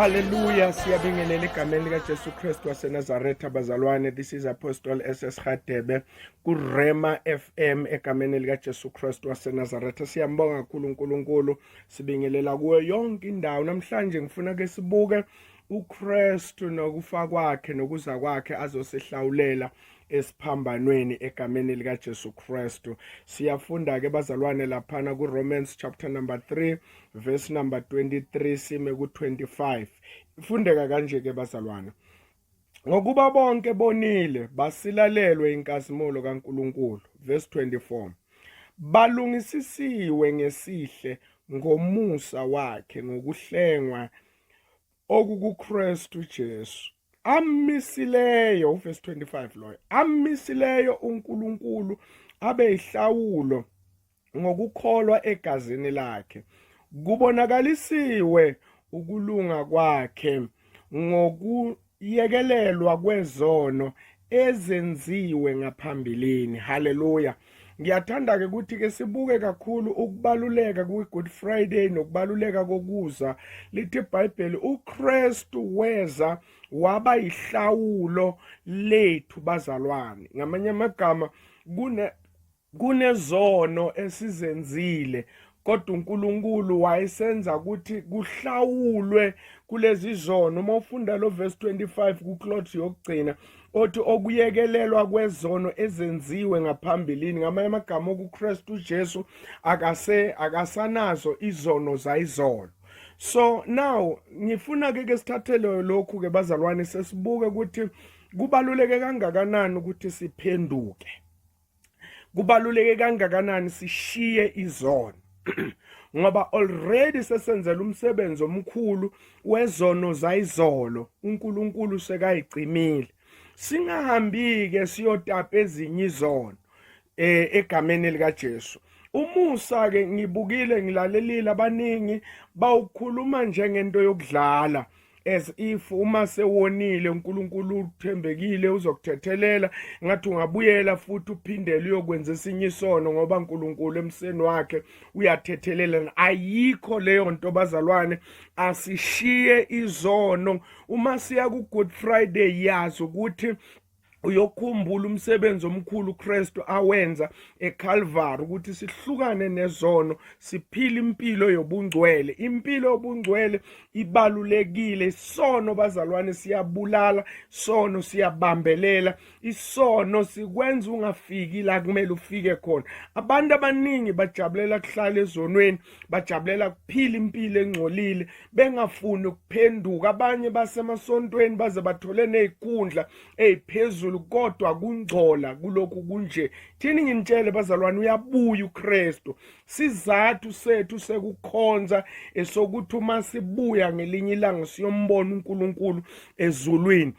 Hallelujah, siyabingelela egameni likaJesu Kristu waseNazaretha bazalwane. This is Apostle SS Hadebe kuRema FM egameni likaJesu Kristu waseNazaretha. Siyambonga kakhulu uNkulunkulu. Sibingelela kuyo yonke indawo. Namhlanje ngifuna ke sibuke uKristu nokufa kwakhe nokuza kwakhe azosihlawulela esiphambanweni egameni likaJesu Kristu siyafunda ke bazalwane laphana kuRomans chapter number 3 verse number 23 sime ku25 ifundeka kanje ke bazalwane ngokuba bonke bonile basilalelwe inkazimulo kaNkuluNkulu verse 24 balungisisiwe ngesihle ngomusa wakhe ngokuhlengwa okukuKristu Jesu amisileyo uverse 25 loyo amisileyo uNkulunkulu abe ihlawulo ngokukholwa egazini lakhe kubonakalisiwe ukulunga kwakhe ngokuyekelelwa kwezono ezenziwe ngaphambilini haleluya ngiyathanda-ke ukuthi-ke sibuke kakhulu ukubaluleka kwi-good friday nokubaluleka kokuza lithi ibhayibheli ukristu weza waba yihlawulo lethu bazalwane ngamanye amagama kune Kunezono esizenzile kodwa uNkulunkulu wayesenza ukuthi kuhlawulwe kulezi zono uma ufunda lo verse 25 kuclot yokugcina othi okuyekelelwa kwezono ezenziwe ngaphambilini ngamanye amagama okuKristu uJesu akase akasanazo izono zayizolo so now ngifuna ke ke sithathele lokhu ke bazalwane sesibuke ukuthi kubaluleke kangakanani ukuthi siphenduke kubaluleke kangakanani sishiye izono ngoba already sesenzela umsebenzi omkhulu wezono zayizolo uNkulunkulu sekayicimile singahambi ke siyotapa ezinye izono eh egameni lika Jesu umusa ke ngibukile ngilalelile abaningi bawukhuluma njengento yokudlala as if uma sewonile uNkulunkulu uthembekile uzokuthethelela ngathi ungabuyela futhi uphindele uyokwenza esinye isono ngoba uNkulunkulu emseni wakhe uyathethelela ayikho leyo nto bazalwane asishiye izono uma siya ku Good Friday yazi ukuthi uyokhumbula umsebenzi omkhulu uKristu awenza eCalvary ukuthi sihlukane nezono siphile impilo yobungcwele impilo yobungcwele ibalulekile isono bazalwane siyabulala sono siyabambelela isono sikwenza ungafiki la kumele ufike khona abantu abaningi bajabulela kuhlala ezonweni bajabulela kuphila impilo engcolile bengafuni ukuphenduka abanye basemasontweni baze bathole nezikhundla eziphezulu kodwa kungcola kulokhu kunje thini nginitshele bazalwane uyabuya uKristu sizathu sethu sekukhonza esokuthi uma sibuya ngelinye ilanga siyombona uNkulunkulu ezulwini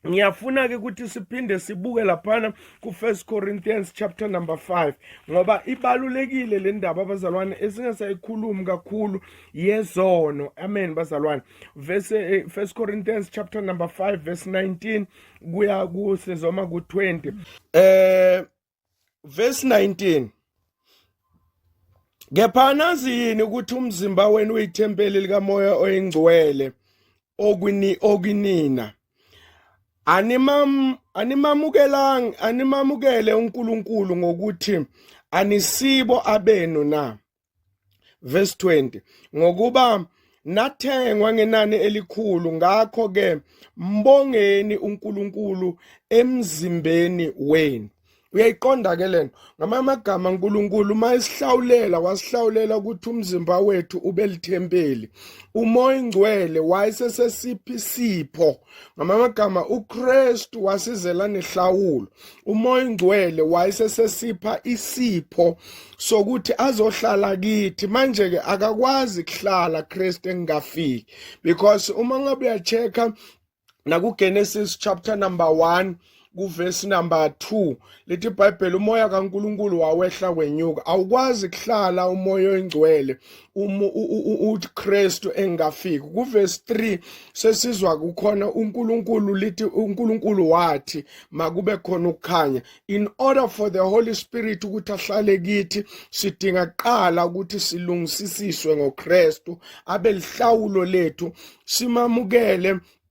ngiyafuna-ke ukuthi siphinde sibuke laphana ku-first corinthians chapter number 5 ngoba ibalulekile le ndaba abazalwane esingasayikhulumi kakhulu yezono amen bazalwane verse eh, first corinthians chapter number 5 verse 19 kuya kusezoma ku-20 eh verse 19 kepha nazi yini ukuthi umzimba wenu uyithempeli likamoya oyingcwele okwini okinina animam animamukelang animamukele uNkulunkulu ngokuthi anisibo abenu na verse 20 ngokuba nathengwa ngenani elikhulu ngakho ke mbongeni uNkulunkulu emzimbeni wenu uyayiqonda ke lento ngamanye amagama uNkulunkulu uma esihlawulela wasihlawulela ukuthi umzimba wethu ube lithempeli umoya ingcwele wayesesesiphi sipho ngamanye amagama ukristu wasizela nehlawulo umoya ingcwele wayesesesipha isipho sokuthi azohlala kithi manje-ke akakwazi kuhlala kristu engingafiki because uma ngabe uyacheck-a nakugenesis chapter number 1 kuvesi number 2 lithi iBhayibheli umoya kaNkuluNkulu wawehla wenyuka awukwazi kuhlala umoya oyingcwele uma uKristu engafiki kuvesi 3 sesizwa kukhona uNkuluNkulu lithi uNkuluNkulu wathi makube khona ukukhanya in order for the holy spirit ukuthi ahlale kithi sidinga kuqala ukuthi silungisisiswe ngoKristu abelihlawulo lethu simamukele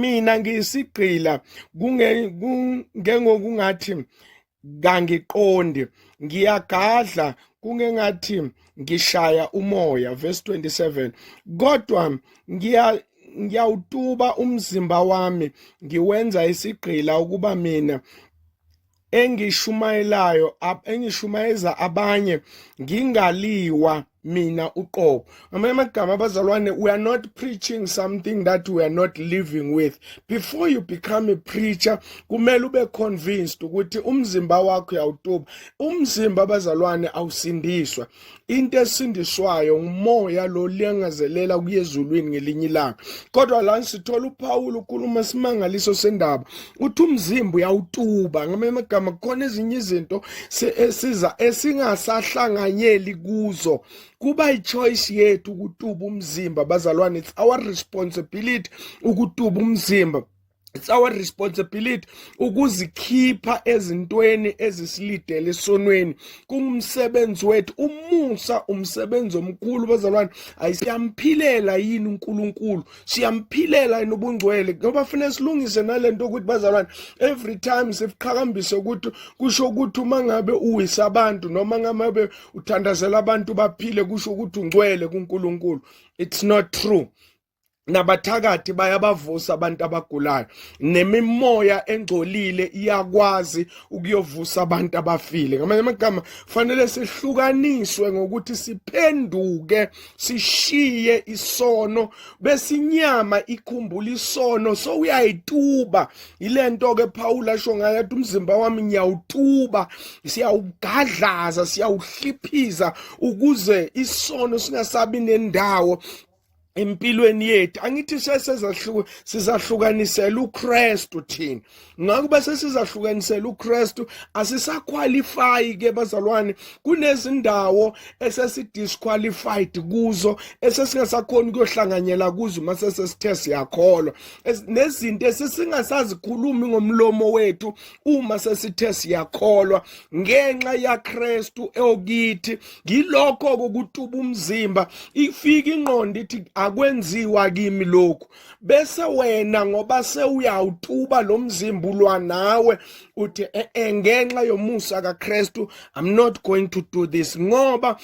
mina ngiyisigqila kungengokungathi kangiqondi ngiyagadla kungengathi ngishaya umoya verse 27 kodwa ngiya ngiyawutuba umzimba wami ngiwenza isigqila ukuba mina engishumayelayo engishumayeza abanye ngingaliwa mina uqobo ngamanye amagama abazalwane we are not preaching something that we are not living with before you become a preacher kumele ube convinced ukuthi umzimba wakho uyawutuba umzimba abazalwane awusindiswa into esindiswayo ngumoya lo liyangazelela kuye ezulwini ngelinye ilanga kodwa la sithola uPawulu ukhuluma simangaliso sendaba uthi umzimba uyawutuba ngamanye amagama kukhona ezinye izinto esiza esingasahlanganyeli kuzo kuba ichoice yethu ukutuba umzimba bazalwane it's our responsibility ukutuba umzimba it's our responsibility ukuzikhipha ezintweni ezisilidele esonweni kungumsebenzi wethu umusa umsebenzi omkhulu bazalwane ayisiyamphilela yini uNkulunkulu siyamphilela yini ubungcwele ngoba fanele silungise nalento ukuthi bazalwane every time siqhakambise ukuthi kusho ukuthi uma ngabe uwisa abantu noma ngabe uthandazela abantu baphile kusho ukuthi ungcwele kuNkulunkulu it's not true nabathakathi bayabavusa abantu abagulayo nemimoya engcolile iyakwazi ukuyovusa abantu abafile ngamanye amagama fanele sihlukaniswe ngokuthi siphenduke sishiye isono besinyama ikhumbula isono so uyayituba yilento ke Paul asho ngayo athi umzimba wami ngiyawutuba siyawugadlaza siyawuhliphiza ukuze isono singasabi nendawo empilweni yethu angithi sesezahluka sizahlukanisela uKristu thina ngakho bese sizahlukanisela uKristu asisaqualify ke bazalwane kunezindawo esesidisqualified kuzo esesingasakhona ukuyohlanganyela kuzo mase sesithe siyakholwa nezinto esisingasazikhulumi ngomlomo wethu uma sesithe siyakholwa ngenxa yaKristu eokithi ngilokho kokutuba umzimba ifika ingqondo ithi akwenziwa kimi lokhu bese wena ngoba sewuyawutuba lo mzimba ulwa nawe uthi eh, eh, ngenxa yomusa kaKristu i'm not going to do this ngoba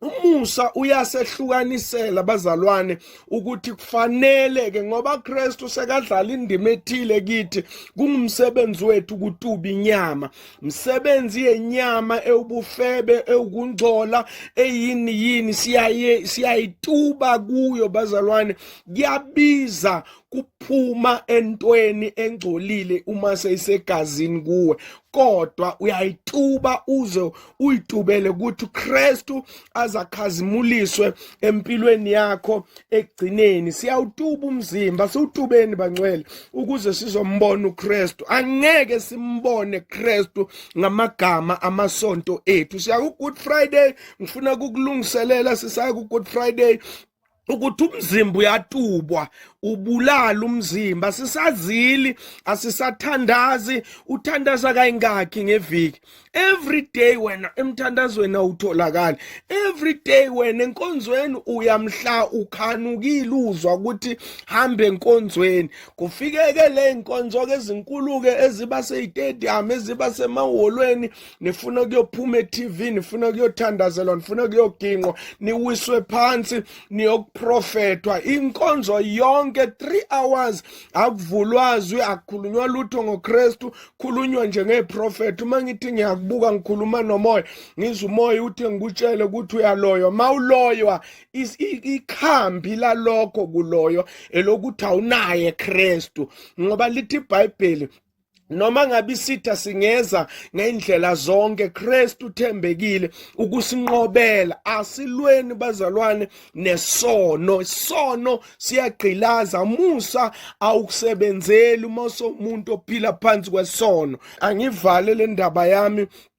umusa uyasehlukanisela bazalwane ukuthi kufanele ke ngoba Kristu sekadlala indima ethile kithi kungumsebenzi wethu ukutuba inyama msebenzi yenyama ewubufebe ewukungcola eyini yini siyaye siyayituba kuyo bazalwane kuyabiza kuphuma entweni engcolile uma seyisegazini kuwe kodwa uyayituba uze uyitubele ukuthi uKristu azakhazimuliswe empilweni yakho ekugcineni siyawutuba umzimba siwutubeni bangcwele ukuze sizombona uKristu angeke simbone Kristu ngamagama amasonto ethu siya ku Good Friday ngifuna kukulungiselela sisaya ku Good Friday ukuthi umzimba uyatubwa ubulala umzimba sisazili asisathandazi uthandaza kayingakhi ngeviki every day wena emthandazweni awutholakali every day wena enkonzweni uyamhla ukhanukile uzwa ukuthi hambe enkonzweni kufikeke le nkonzo ke ezinkulu ke eziba seyitedium eziba semahholweni nifuna kuyophuma e-TV nifuna kuyothandazelwa nifuna kuyoginqwa niwiswe phansi niyokuprofethwa inkonzo yonke 3 hours akuvulwazwi akukhulunywa lutho ngoKristu khulunywa nje ngeprofethi uma ngithi ngiyakubuka ngikhuluma nomoya ngizwa umoya uthi ngikutshele ukuthi uyaloywa mawuloywa ikhambi lalokho kuloyo elokuthi awunaye Kristu ngoba lithi iBhayibheli noma ngabe isitha singeza ngendlela zonke Kristu uthembekile ukusinqobela asilweni bazalwane nesono isono siyagqilaza musa awukusebenzeli uma somuntu ophila phansi kwesono angivale le ndaba yami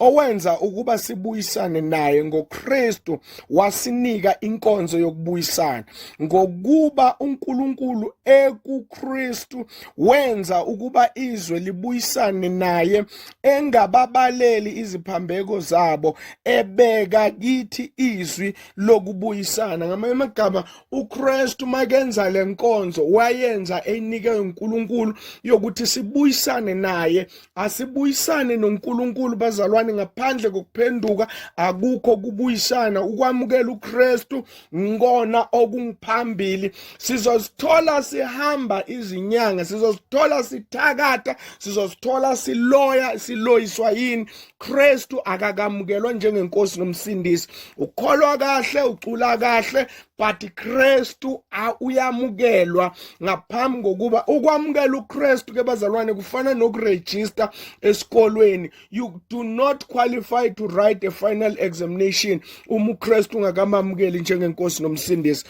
owenza ukuba sibuyisane naye ngoKristu wasinika inkonzo yokubuyisana ngokuba uNkulunkulu ekuKristu wenza ukuba izwe libuyisane naye engababaleli iziphambeko zabo ebeka kithi izwi lokubuyisana ngamanye amagama uKristu makenza lenkonzo wayenza eyinike uNkulunkulu yokuthi sibuyisane naye Asibuyisane noNkulunkulu bazalwane ngaphandle kokuphenduka akukho kubuyisana ukwamukela uKristu ngona okungiphambili sizozithola sihamba izinyanga sizozithola sithakatha sizozithola siloya siloyiswa yini Kristu akakamukelwa njengenkosi nomsindisi ukholwa kahle ucula kahle but Kristu uyamukelwa ngaphambi kokuba ukwamukela uKristu ke bazalwane kufana nokuregister esikolweni you do not qualify to write a final examination uma uKristu ungakamamukeli njengenkosi nomsindisi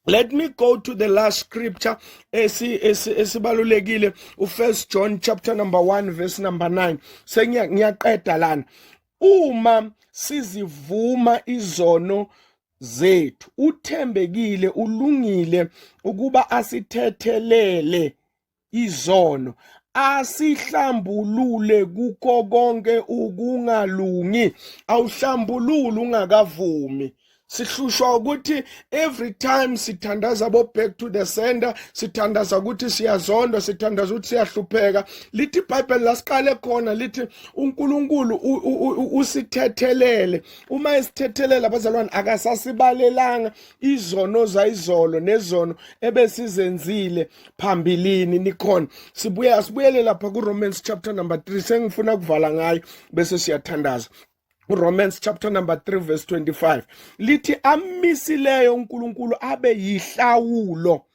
Let me go to the last scripture esibalulekile uFirst John chapter number 1 verse number 9 sengiyaqeda lana uma sizivuma izono zethu uthembekile ulungile ukuba asithethelele izono asihlambulule kukho konke ukungalungi awuhlambulule ungakavumi sihlushwa ukuthi every time sithandaza bo back to the sender sithandaza ukuthi siyazondwa sithandaza ukuthi siyahlupheka lithi ibhayibheli lasiqale khona lithi unkulunkulu usithethelele uma esithethelela abazalwane akasasibalelanga izono zayizolo nezono ebesizenzile phambilini nikhona sibuye asibuyele lapha kuRomans chapter number 3 sengifuna kuvala ngayo bese siyathandaza Romans chapter number 3 verse 25 lithi amisileyo uNkulunkulu abe yihlawulo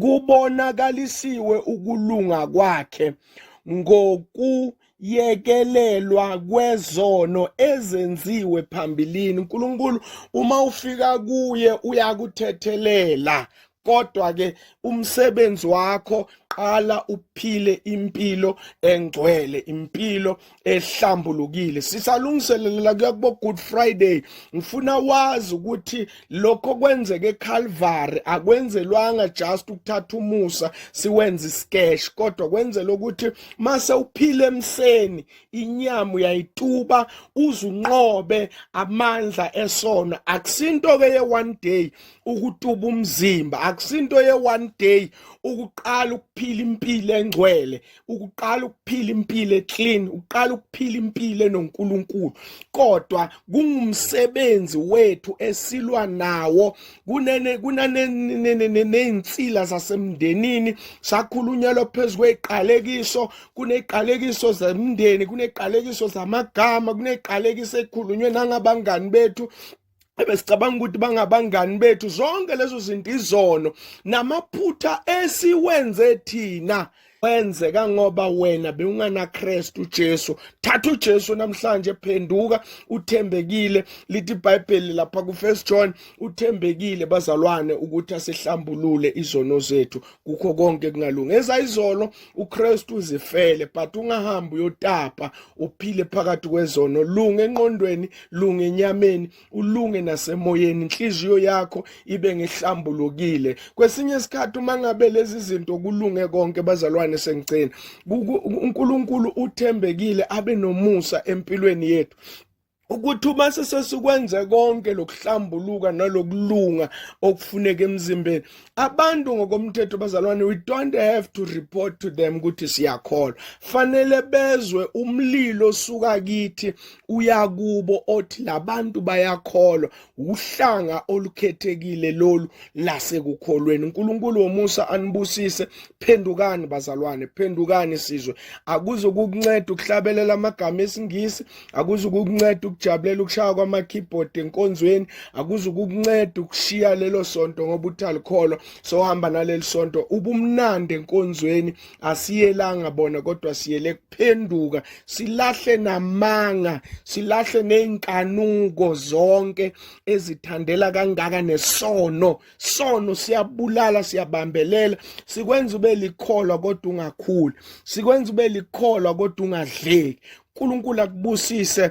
kubonakalisiwe ukulunga kwakhe ngoku yekelelwa kwezono ezenziwe phambilini uNkulunkulu uma ufika kuye uyakuthethelela kodwa ke umsebenzi wakho qala uphile impilo engcwele impilo ehlambulukile sisalungiselela kuyakubo good friday ngifuna wazi ukuthi lokho kwenzeke eCalvary akwenzelwanga just ukuthatha umusa siwenze iskesh kodwa kwenzela ukuthi mase uphile emseni inyama uyayituba uzunqobe amandla esono akusinto ke ye one day ukutuba umzimba akusinto ye one day ukuqala ukuphila impilo engcwele ukuqala ukuphila impilo eclean uqala ukuphila impilo enoNkulunkulu kodwa kungumsebenzi wethu esilwa nawo kunene kunaneinsila zasemndenini sakhulunyelwa phezulu kweqalekiso kuneqalekiso zemndeni kuneqalekiso zamagama kuneqalekiso ekhulunywe nangabangani bethu ebesicabanga ukuthi bangabangani bethu zonke lezo zinto izono namaphutha esiwenze thina kwenzeka ngoba wena bewunganaKristu Jesu thatha uJesu namhlanje phenduka uthembekile lithi iBhayibheli lapha kuFirst John uthembekile bazalwane ukuthi asihlambulule izono zethu kukho konke kungalungi ezayizolo uKristu uzifele but ungahambi uyotapa uphile phakathi kwezono lunge enqondweni lunge enyameni ulunge nasemoyeni inhliziyo yakho ibe ngehlambulukile kwesinye isikhathi uma ngabe lezi zinto kulunge konke bazalwane sengicina uNkulunkulu uthembekile abe nomusa empilweni yethu ukuthi uma sesesikwenze konke lokuhlambuluka nalokulunga okufuneka emzimbeni abantu ngokomthetho bazalwane we don't have to report to them ukuthi siyakholwa fanele bezwe umlilo suka kithi uyakubo othi labantu bayakholwa uhlanga olukhethekile lolu lasekukholweni uNkulunkulu womusa anibusise phendukani bazalwane phendukani sizwe akuzo kukunceda ukuhlabelela amagama esingisi akuzo kukunceda ukujabulela ukushaya kwama keyboard enkonzweni akuzo kukunceda ukushiya lelo sonto ngoba uthalikholwa sohamba naleli sonto ubumnandi enkonzweni asiyelanga bona kodwa siyele kuphenduka silahle namanga silahle nezinkanuko zonke ezithandela kangaka nesono sono siyabulala siyabambelela sikwenza ube likholwa kodwa ungakhuli sikwenza ube likholwa kodwa ungadleki uNkulunkulu akubusise